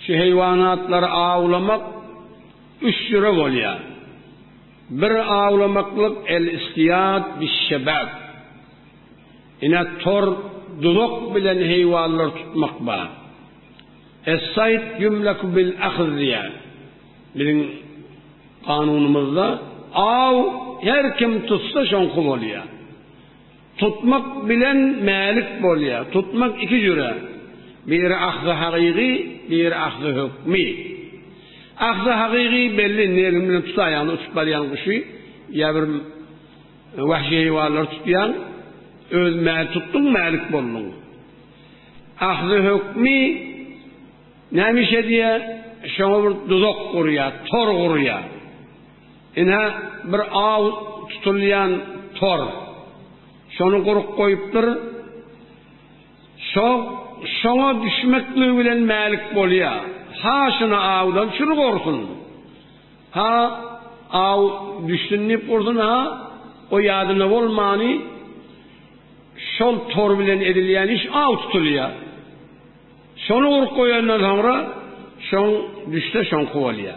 Şu heýwanatlary awlamak üç jüre bolýar. Bir awlamaklyk el-istiýad biş-şebek. Ine tor, duzak bilen heýwanlar tutmak bar. Es-sayd ýumlaku bil-ahz diýýär. Biziň kanunymyzda aw her kim tutsa şoňky bolýar. Tutmak bilen mälik bolýar. Tutmak iki jüre. Biri ahzy hagygy, biri ahzy hökmi. Ahzy hagygy belli negim bilen tut aýagyny uçup barýan guşy ýa bir wahşy heýwanlary tutýaň, öz mäli tutduň, mälik bolduň. Ahzy hökmi näme iş edýär? Şoňa bir duzak gurýar, tor gurýar. Ine, bir aw tutulýan tor. Şony guryp goýupdyr. Şo, şoňa düşmekligi bilen mälik bolýa. Ha şuny awdan çürük ursun. Ha aw düşsün diýip ursun, ha o ýadynda bolmany şol tor bilen edilýän iş aw tutulýa. Şony guryp goýandan soňra şoň düşse şoňky bolýa.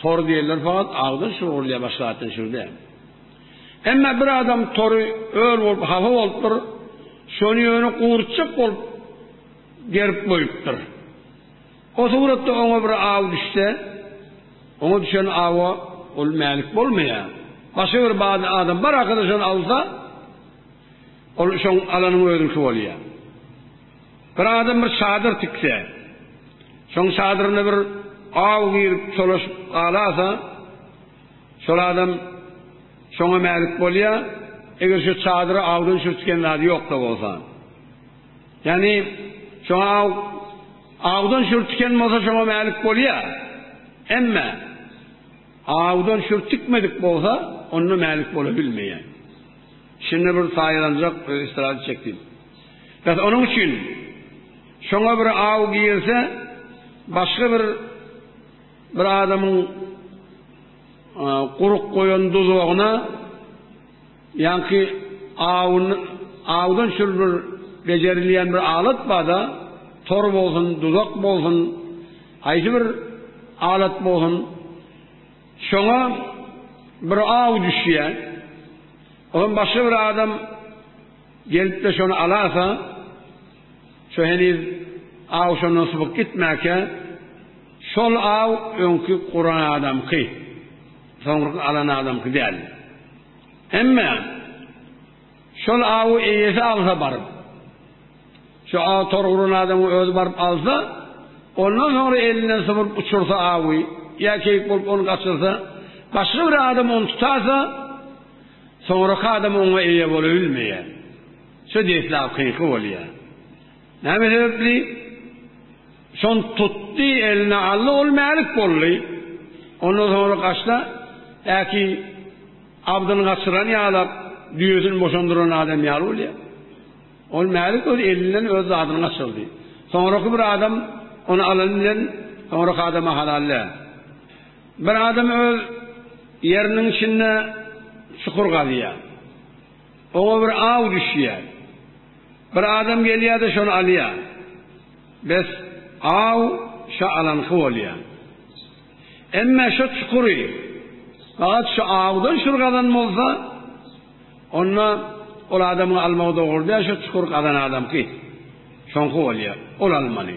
Tor diýenler fakat agzyny şugurlaýar başga zatdan şuny däl. Emma bir adam tory ör bolup hafa bolupdyr. Şony ýöne gurutjak bolup gerip goýupdyr. O suratda oňa bir aw düşse, oňa düşen awa ol mälik bolmaýar. Başga bir bady adam bir arkadaşyny alsa, ol şoň alanyň özüňki bolýar. Bir adam bir çadyr tikse, şoň çadyrynda bir aw girip çolaşyp galasa, şol adam şoňa mälik bolýar, eger şu çadyra awdan sürtgen zady ýok-da bolsa. Ýagny, şoňa aw awdan sürtgen bolsa şoňa mälik bolýar. Emma awdan sürtükmedik bolsa, onda mälik bolabilmeýär. Şunda bir saýalanjak, bir estrada çekdim. Bes onuň üçin şoňa bir aw girse, başga bir bir adamyň gurup goýan duzagyna ýaňky awyny awdan şul bir bejerilýän bir alat bar-da, tor bolsun, duzak bolsun, haýsy bir alat bolsun, şoňa bir aw düşýär. Olam başga bir adam Gelip-de şony alasa, şu heniz aw şondan sypyp gitmäkä, şol aw öňki guran adamky, soňurky alan adamky däl. Emme, şol awy eýesi alsa baryp, şu aw tor guran adamky özi baryp alsa, ondan soňra elinden sypyp uçursa awy, ýa keýik bolup ony gaçyrsa, başga bir adam ony tutasa, Soňraky adam oňa eýe bolabilmeýär. Şu deslapkyňky bolýar. Näme sebäpli? Şony tutdy, eline aldy, ol mälik boldy. Ondan soňra gaçsa, äki abdyny gaçyran ýalap, düýesini boşandyran adam ýaly bolýar. Ol mälik öz elinden öz zadyny gaçyrdy. Soňraky bir adam ony alany bilen soňraky adama halal däl. Bir adam öz ýeriniň içinde çukur gazýar. Oňa bir aw düşýär. Bir adam gelýär-de şony alýar. Bes, aw şo alanyňky bolýar. Emme şo çukury gabat şo awdan şul gazan bolsa, onda ol adamyň almagy dogry däl, şo çukury gazan adamky, şoňky bolýar. Ol almaly.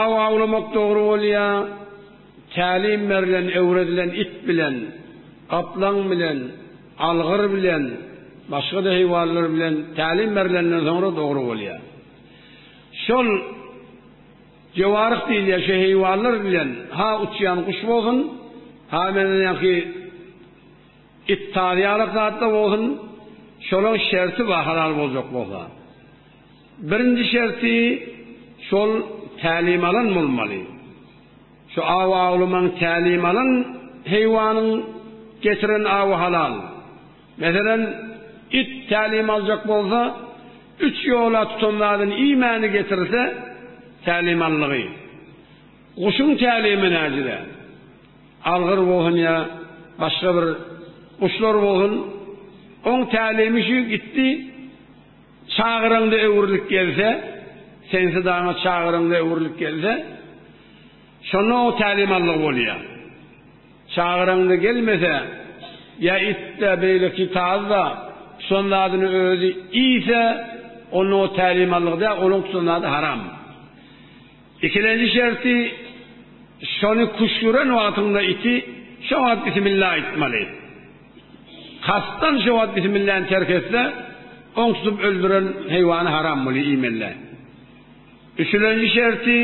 Aw awlamak dogry bolýa, tälim berlen, öwredilen it bilen, gaplaň bilen, algyr bilen, başga-da heýwanlar bilen tälim berlenden soňra dogry bolýa. Şol jewaryh diýilýä şu heýwanlar bilen ha uçýan guş bolsun, ha menden ýaňky it tazýalak zatda bolsun, şolaň şerti bar halal boljak bolsa. Birinji şerti şol tälim alan bolmaly. Şu awy awlamaň tälim alan heýwanyň getiren awy halal. Meselem, it tälim aljak bolsa, üç ýola tutan zadyny iýmäni getirse, tälim alnygy. Guşuň tälimi näcide? Algyr bolsun ýa başga bir guşlar bolsun, oň tälimi şu gitdi, Çagyryňda öwrülip gelse, sensiz daňa çagyryňda öwrülip gelse, şonda oň tälimallygy bolýar. Çagyryňda gelmese, ýa itde, beýleki tazda tutan zadyny özi iýse, onda o tälimallyk däl, onuň tutan zady haram. Ikilenji şerti, şony küşgüren wagtyňda iti, şo wagt bismillah aýtmaly. Kastan şo wagt bismilläni terk etse, oň tutup öldüren heýwany haram bolýar iýmelle. Üçülenji şerti,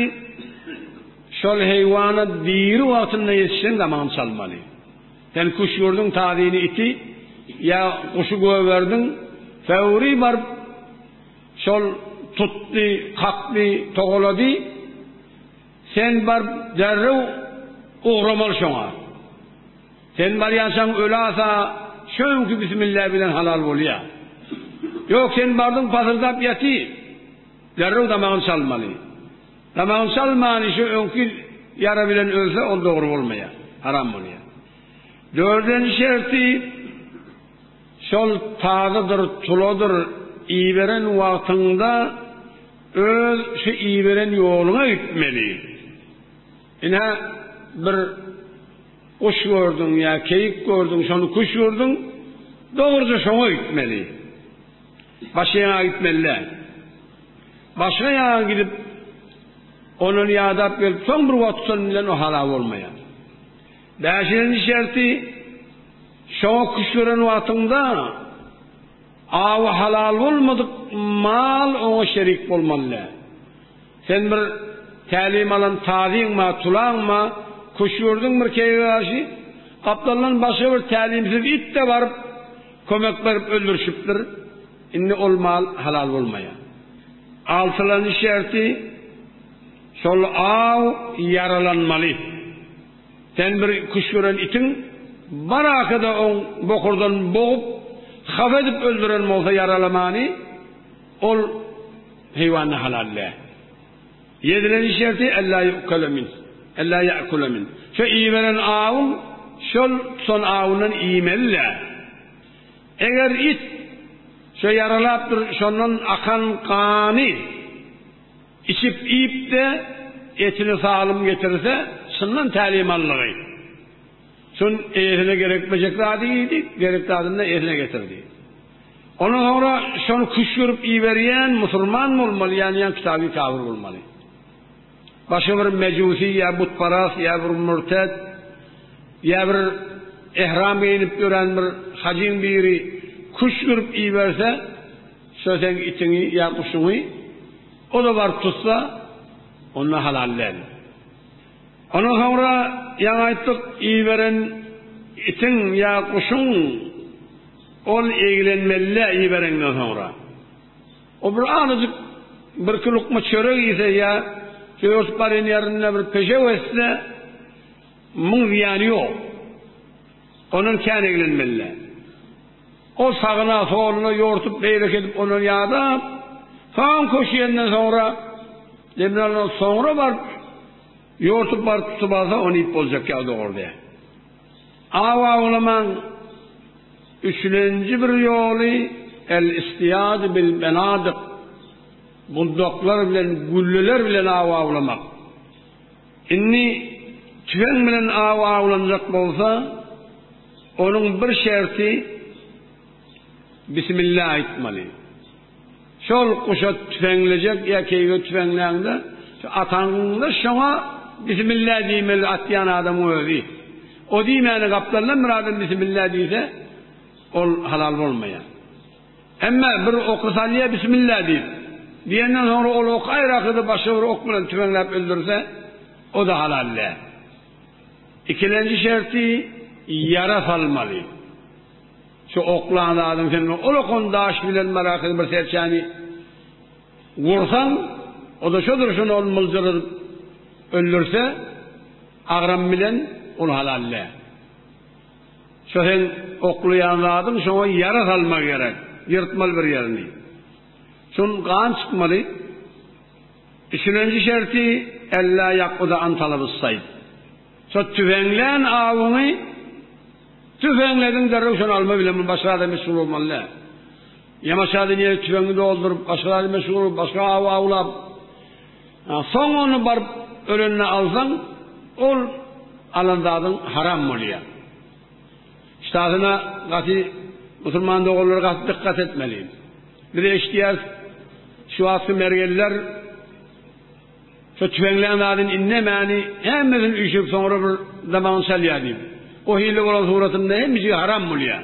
şol heýwana diri wagtynda ýetişseň damagyny çalmaly. Sen küşgürdiň tazyny iti ýa guşy gögerdiň, föwri baryp şol tutdy, kakdy, togalady, Sen baryp derrew ugramaly şoňa. Sen barýançaň ölasa şo öňki bismillah bilen halal bolýa. Ýok sen bardyň pasyrdap ýaty. Derrew damagyny çalmaly. Damagyny çalmany şo öňki ýara bilen ölse ol dogry bolmaýa. Haram bolýa. Dördenji şerti şol tazydyr tuladyr iberen wagtyňda Öz şu iberen ýoluňa gitmeli. Ine, bir guş gördüň ýa keýik gördüň, şony kuş gördüň, dogruja şoňa gitmeli. Başga ýaňa gitmeli däl. Başga ýaňa gidip, ondan ýadap gelip, soň bir wagt şonuň bilen o halal bolmaýar. Bäşinji şerti, şoňa kuş gören wagtyňda, Awy halal bolmadyk mal oňa şerik bolmaly däl. Sen bir tälim alan tazyňma, tulaňma, küşgürdiň bir keýige garşy, gapdaldan başga bir tälimsiz it-de baryp, kömek berip öldürişipdir, indi ol mal halal bolmaýar. Altylanyş şerti, şol aw ýaralanmaly. Sen bir küşt gören itiň baraka-da oň bokurdan bogup, hapa edip öldüren bolsa ýaralamany, ol heýwanda halal dä. Ýedilen şerti ellä ýu'kele min, ellä ýa'kule min. Şo iýiberen awyň şol tutan awyndan iýmeli dä. Eger it şo ýaralapdyr, şondan akan gany. Içip-iýip-de, etini salym getirse, çyndan tälimanlygy. Şun eýesine gerekmejek zady iýdi, gerek zadyny-da eýesine getirdi. Ondan soňra şony küşgürip iýerýän musulman bolmaly, ýa-ni ýa kitaby kafir bolmaly. Başga bir mejusi ýa butparas ýa bir mürtet ýa bir ehram geýnip ýören bir hajyň biri küşgürip iýerse, Şo seň itiňi ýa guşuňy o-da baryp tutsa, onda halal däl. Ondan soňra ýaňy aýtdyk, iberen itiň ýa guşuň ol eglenmelidä ibereňden soňra. O bir azajyk birki lukma çörek iýse ýa ýörtüp barýan ýerinde bir pejew etse, muň zyýany ýok. Ondan kän eglenmelidä. Ol sagyna, soluna ýortup, beýleki edip ondan ýadap, soň köşeýenden soňra, demini alandan soňra baryp, ýortup baryp tutup alsa, ony iýip boljak ýaly dogrudy. Awa ulamaň üçlenji bir ýoly el-istiyad bil-benadyk, budaklar bilen, gülleler bilen awa ulamak. Indi tüfeň bilen aw awlanjak bolsa, onuň bir şerti Bismillah aýtmaly. Şol guşa tüfeňlejek ýa keýige tüfeňläňde, şu ataňda şoňa Bismillah diýmeli atýan adamyň özi. O diýmäne gapdaldan bir adam Bismillah diýse, ol halal bolmaýar. Emma bir oky salýar, Bismilla diýip. Diýenden soňra ol oky aýrakydy başga bir ok bilen tüweňläp öldürse, o-da halal däl. Ikilenji şerti, ýara salmaly. Şu oklan zadyň sen bilen ol okan daş bilen barakydy bir serçäni ursaň, o-da şo durşuna ol myljaryp öldürse, agram bilen, ol halal däl. Şo sen oklaýan zadyň şoňa ýara salmagy gerek. Ýyrtmaly bir ýerini. Şun gan çykmaly. Üçülenji şerti, Ellä ýakguda an talaby's saýd. Şo tüfeňlän awyňy tüfeňlediň derrew şony alma bilen bu başga zada meşgul bolmaly däl. Ýa başga dünýä tüfeňi dolduryp, başga zada meşgul bolup, başga awy awlap, Soň ony baryp ölende alsaň, ol alan zadyň haram bolýar. Ştasyna gaty musulman doganlar gaty dykgat etmeli. Biz eşidýäris, şu wagtky mergenler şo tüfeňlän zadyny indemäni hemmesini üýşürip soňra bir damagyny çalýar diýip. O hili bolan suratynda hemmeşige haram bolýar.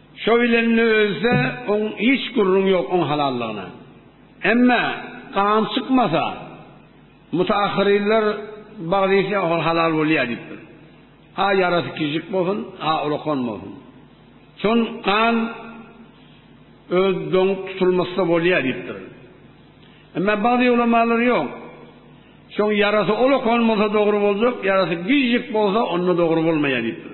Şo bilenine özde oň hiç gürrüň ýok oň halallygyna. Emme gan çykmasa mutaahhyrynlar bagysy ol halal bolýar diýipdir. Ha ýarasy kiçijik bolsun, ha ulakan bolsun. Şon gan öz doňup tutulmasa bolýar diýipdir. Emme bagdy ulamalar ýok. Şoň ýarasy ulakan bolsa dogry boljak, ýarasy kiçijik bolsa onda dogry bolmaýar diýipdir.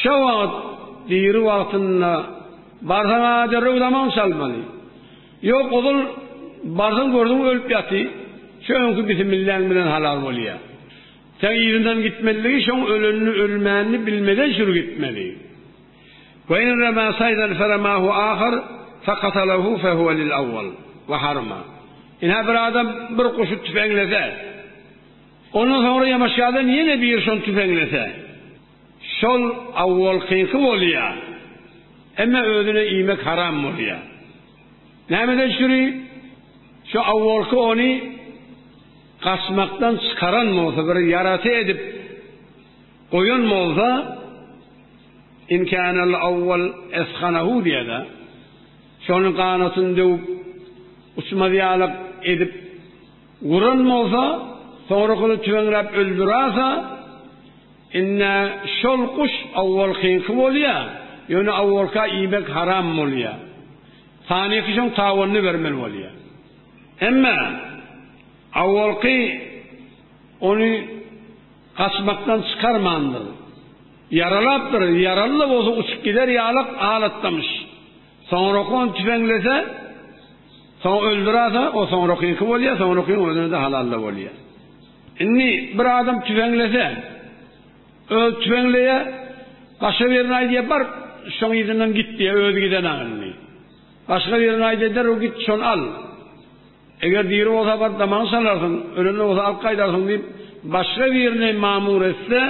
Şo wagt diri wagtynda barsaň a derrew zaman salmaly. Ýok ozal barsaň gördüň ölüp ýaty şo öňki bisimilläň bilen halal bolýa. Seň yzyndan gitmezligi şoň ölenini ölmänini bilmeden şur gitmeli. Ve in rema saydan feremahu ahar fekatalahu fehuve lil awwal ve harma. Ine bir adam bir guşy tüfeňlese ondan soňra ýamaşýada ýene bir şony tüfeňlese. Şol awwalkyňky bolýa. Emma özüne iýmek haram bolýa. Nämeden şüri? Şo awwalky ony gaçmakdan çykaran bolsa, bir ýarasy edip goýan bolsa, in känel awwal esganahu diýada. Şony ganatyny döwüp, uçmaz ýalak edip guran bolsa, soňrakysy tüweňläp öldürasa, Ine, şol guş owalkyňky bolýa, ýöne owalka iýmek haram bolýa. Sanyky şoň tabanyny bermeli bolýa. Emma owalky ony gaçmakdan çykarmandyr. Ýaralapdyr, ýaraly-da bolsa uçup gider ýalak alatdamyş. Soňraky ony tüpeňlese, soň öldürerse, o soňrakyňky bolýa, soňrakyň özüne-de halal-da bolýa. Indi bir adam tüweňlese, özi tüweňleýär, başga birine aýdýar, Bar, şoň yzyndan git diýýär, özi gidenok indi. Başga birine aýdýar, Derrew git, şony al. Eger diri bolsa, bar, damagyny çalarsyň, ölende bolsa, alyp gaýdarsyň diýip, başga birini mamur etse,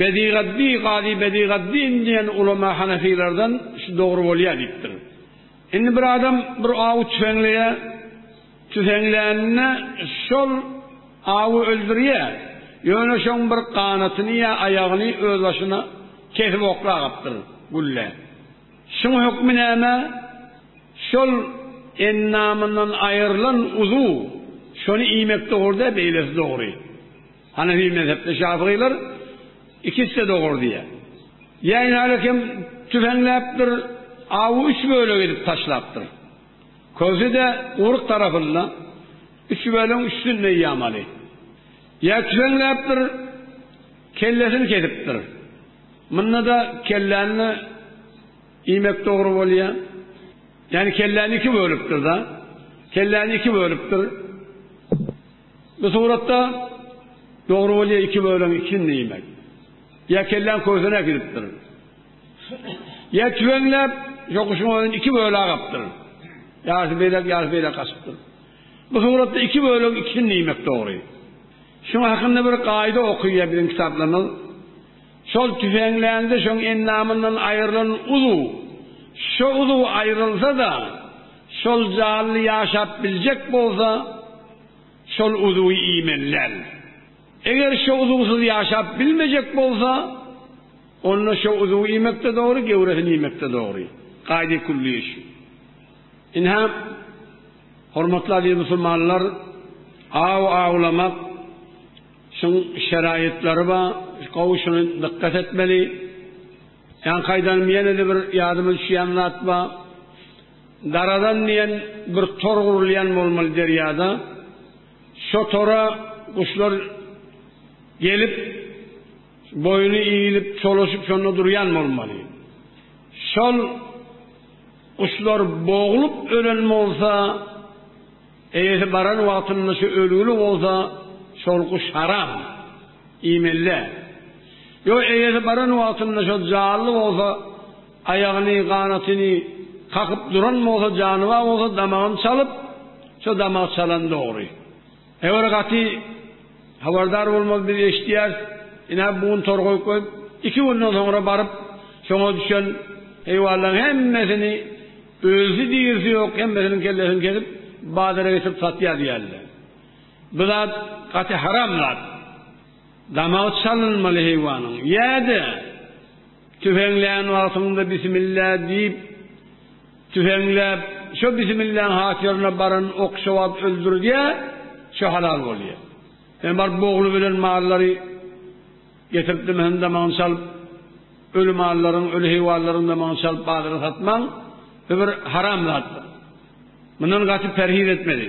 Bedigaddi, Gazy Bedigaddin diýen ulema hanefilerden şu dogry bolýar diýipdir. Indi bir adam bir awy tüweňleýär, Tüfeňlänine şol awy öldürýär, ýöne şoň bir ganatyny ýa aýagyny özbaşyna kesip oklagapdyr gülle. Şuň hökmi näme? Şol endamyndan aýrylan uzuw şony iýmek dogry-da, beýlesi dogry. Hanefi mezhepde şafygylar ikisi-de dogry diýýär. Ýa nälekem tüfeňläpdir, awy üç bölek edip taşlapdyr. Köse-de uryk tarapynda, üçübeliň üstünde ýamaly. Ýekreňläp bir kellesini kesipdir. Munda-da kelläni-de iýmek dogry bolýar. Ýagny kelläni iki bölüpdir-de. Kelläni iki bölüpdir. Bu suratda dogry bolýar iki bölüň ikisini-de iýmek. Ýa kelläň kösüni äkidipdir. Ýer tüweňläp, şo guşuň özüni iki bölä gapdyr. Ýarysy beýläk, ýarysy beýläk gaçypdyr. Bu suratda iki bölegiň ikisini diýmek dogry. Şuň hakynda bir gaýda okyýar biziň kitaplarymyz. Şol tüweňlände şoň endamyndan aýrylan uzuw, şo uzuw aýrylsa-da, şol janly ýaşap biljek bolsa, şol uzuwy iýmeli däl. Eger şo uzugsyz ýaşap bilmejek bolsa, onda şo uzugy iýmek-de dogry, gewresini iýmek-de dogry. Gaýdy külli iş. Ine, hormatly aziz musulmanlar, aw awlamak şuň şeraýatlary bar, gowy şuny dykgat etmeli. Ýaňkaýdan ýene-de bir ýadyma düşýän zat bar. Daradan diýen bir tor gurulýan bolmaly derýada. Şo tora guşlar gelip, boýuny iýlip, çolaşyp şonda durýan bolmaly. Şol guşlar boglup ölen bolsa, eýesi baran wagtynda şu ölgüli bolsa, şol guş haram, iýmeli däl. Ýo eýesi baran wagtynda şo janly bolsa, Aýagyny, ganatyny kakyp duran bolsa janybar bolsa damagyny çalyp, şo damagy çalan dogry. Eger gaty habardar bolmaz biz eşidýäris, ine bu gün tor goýup goýup, iki günden soňra baryp şoňa düşen heýwanlaryň hemmesini ölüsi dirisi ýok hemmesiniň kellesini kesip bazara getirip satýar diýýärler. Bu zat gaty haram zat. Damagy çalynmaly heýwanyň. Ýa-da, tüfeňlän wagtyňda bismilla diýip, tüfeňläp, şo bismilläň hatyryna baran oky şo wagt öldürdýär, şo halal bolýar. Sen baryp bogly bilen mallary getirip dimäni damagyny çalyp, öli mallaryň, öli heýwanlaryň damagyny çalyp bazara satmaň, bu bir haram zatdyr. Mundan gaty perhiz etmeli.